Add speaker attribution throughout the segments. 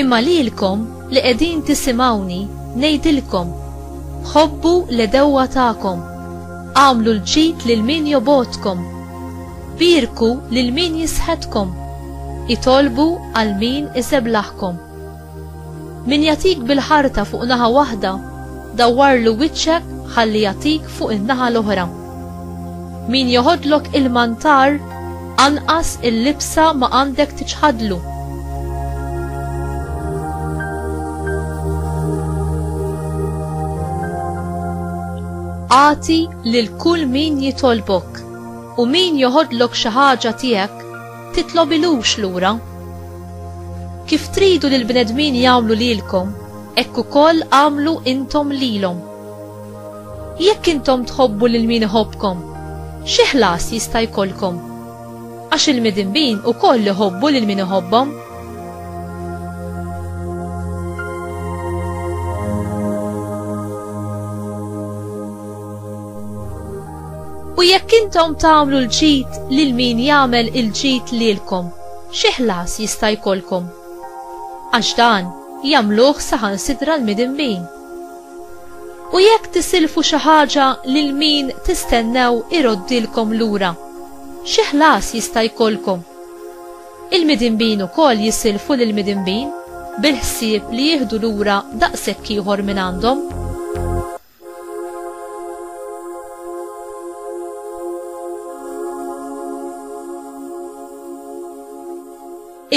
Speaker 1: Imma lilkom li qegħdin tisimgħuni ngħidilkom, Ħobbu l-għedewwa tagħkom, agħmlu l-ġid lil min jobgħodkom, bierku lil min jisħetkom, itolbu għal min iseblaħkom. Min jagħtik bil-ħarta fuq naħa waħda, dawwarlu wiċċek ħalli jagħtik fuq in-naħa l-oħra. Min joħodlok il-mantar, anqas il-libsa ma għandek tiċħadlu. Agħti lil kull min jitolbok, u min joħodlok xi ħaġa tiegħek, titlobilux lura. Kif tridu li l-bnedmin jagħmlu lilkom, hekk ukoll agħmlu intom lilhom. Jekk intom tħobbu lil min iħobbkom, xi ħlas jista' jkollkom? Għax il-midinbin ukoll iħobbu lil min iħobbhom. U jekk intom tagħmlu l-ġid lil min jagħmel il-ġid lilkom, xi ħlas jista' jkollkom? Għax dan jagħmluh saħansitra l-midinbin. U jekk tisilfu xi ħaġa lil min tistennew iroddilkom lura, xi ħlas jista' jkollkom? Il-midinbin ukoll jisilfu lill-midinbin bil-ħsieb li jieħdu lura daqshekk ieħor mingħandhom.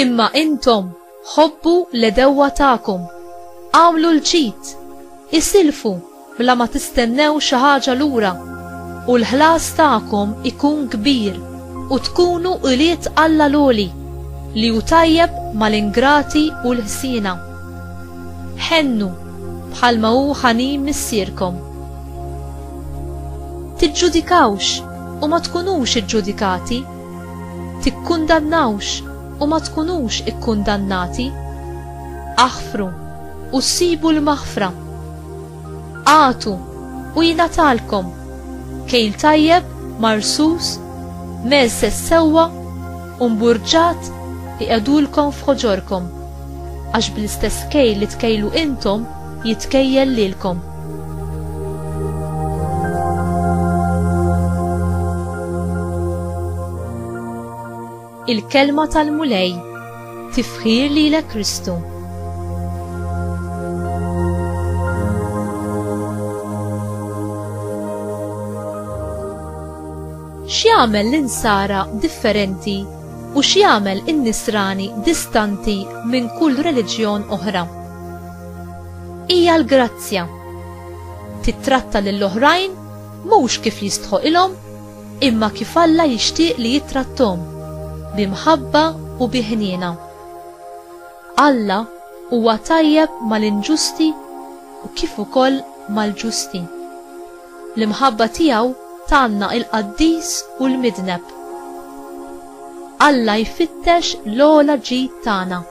Speaker 1: Imma intom, Ħobbu l-għedewwa tagħkom. Agħmlu l-ġid. Isilfu bla ma tistennew xi ħaġa lura, u l-ħlas tagħkom ikun kbir, u tkunu ulied Alla l-Għoli, li hu tajjeb mal-ingrati u l-ħsiena. Ħennu, bħalma hu ħanin Missierkom. Tiġġudikawx, u ma tkunux iġġudikati. tikkundannawx u ma tkunux ikkundannati, aħfru u ssibu l-maħfra, agħtu u jingħatalkom, kejl tajjeb, marsus, mgħeżżeż sewwa u mburġat iqiegħdulkom f'ħoġorkom, għax bl-istess kejl li tkejlu intom, jitkejjel lilkom. Il-kelma tal-Mulej tifħir lilek Kristu. X'jagħmel l-insara differenti u x'jagħmel in-nisrani distanti minn kull reliġjon oħra? Hija l-grazzja. Tittratta lil oħrajn mhux kif jistħoqilhom imma kif Alla jixtieq li jittrattom, bi mħabba u bi ħniena. Alla huwa tajjeb mal-inġusti u kif ukoll mal-ġusti. L-imħabba tiegħu tgħanna il-qaddis u l-midneb. Alla jfittex l-ogħla ġid tagħna.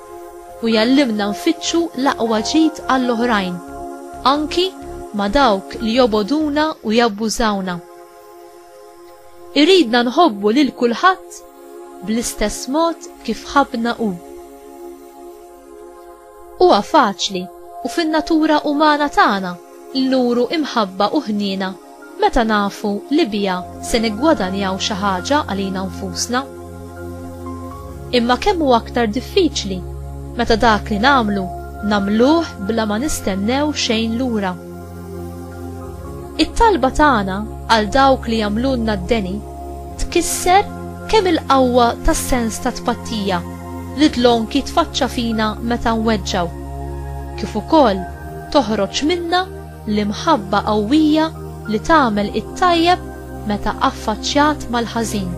Speaker 1: u jgħallimna nfittxu l-aqwa ġid għall-oħrajn, anki ma' dawk li jobogħduna u jabbużawna. Iridna nħobbu lil kulħadd bl-istess mod kif ħabbna hu. Huwa faċli u fin-natura umana tagħna li nuru imħabba u ħniena Meta nafu li biha se niggwadanjaw xi ħaġa għalina nfusna. Imma kemm hu aktar diffiċli meta dak li nagħmlu nagħmluh bla ma nistennew xejn lura. It-talba tagħna għal dawk li jagħmlulna d-deni tkisser kemm il-qawwa tas-sens ta' tpattija li dlonk jitfaċċa fina meta nweġġgħu, kif ukoll toħroġ minna L-imħabba qawwija li tagħmel it-tajjeb meta affaċċjat mal-ħażin.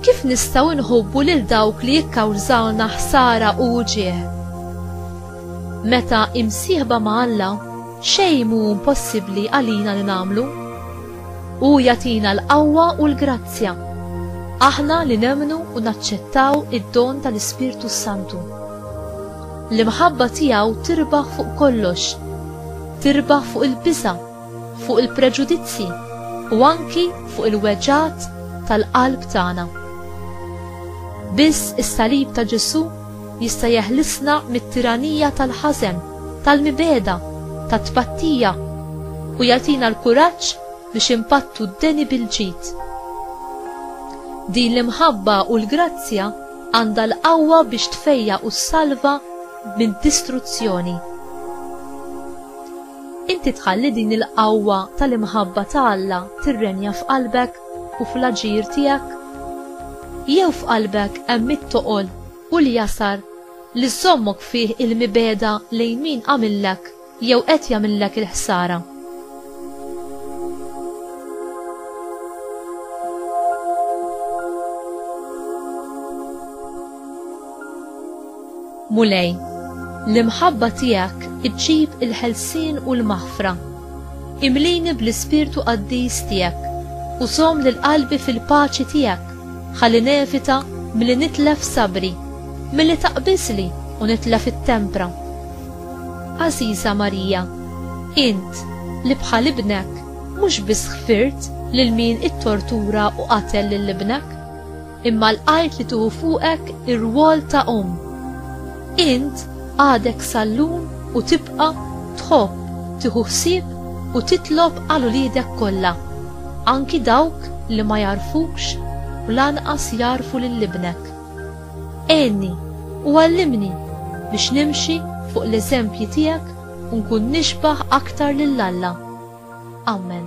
Speaker 1: Kif nistgħu nħobbu lil dawk li jikkawżawna ħsara u uġieħ? Meta imsieħba ma' Alla, xejn mhu impossibbli għalina li nagħmlu. Hu jagħtina l-qawwa u l-grazzja. Aħna li nemmnu u naċċettaw id-don tal-Ispirtu s-Santu. L-imħabba tiegħu tirbaħ fuq kollox. Tirbaħ fuq il-biża', fuq il-preġudizzji u anki fuq il-weġgħat tal-qalb tagħna. Biss is-salib ta' Ġesù jista' jeħlisna mit-tiranija tal-ħażen tal-mibegħda, tat-tpattija, u jagħtina l-kuraġġ biex inpattu d-deni bil-ġid. Din l-imħabba u l-grazzja għandha l-qawwa biex tfejjaq u ssalva mid-distruzzjoni. Inti tħalli din il-qawwa tal-imħabba ta' Alla tirrenja f'qalbek u fl-aġir tiegħek? Jew f'qalbek hemm it-toqol u li jasar, li żżommok fih il-mibegħda lejn min għamillek jew qed jagħmillek il-ħsara. Mulej, l-imħabba tiegħek iġġib il-ħelsien u l-maħfra. Imlini bl-ispirtu qaddis tiegħek u żomm lil qalbi fil-paċi tiegħek Ħalli nevita milli nitlef sabri, milli taqbiżli u nitlef it-tempra. Għażiża Marija, int li bħal Ibnek mhux biss ħfirt lil min ittortura u qatel lil Ibnek, imma lqajt li tieħu fuqek ir-rwol ta' Omm. Int għadek sallun u tibqa' tħobb tieħu ħsieb u titlob għal uliedek kollha, anki dawk li ma jagħrfukx u lanqas jagħrfu lil ibnek. Għinni u għallimni biex nimxi fuq l-eżempji tiegħek u nkun nixbah aktar lil Alla. Amen.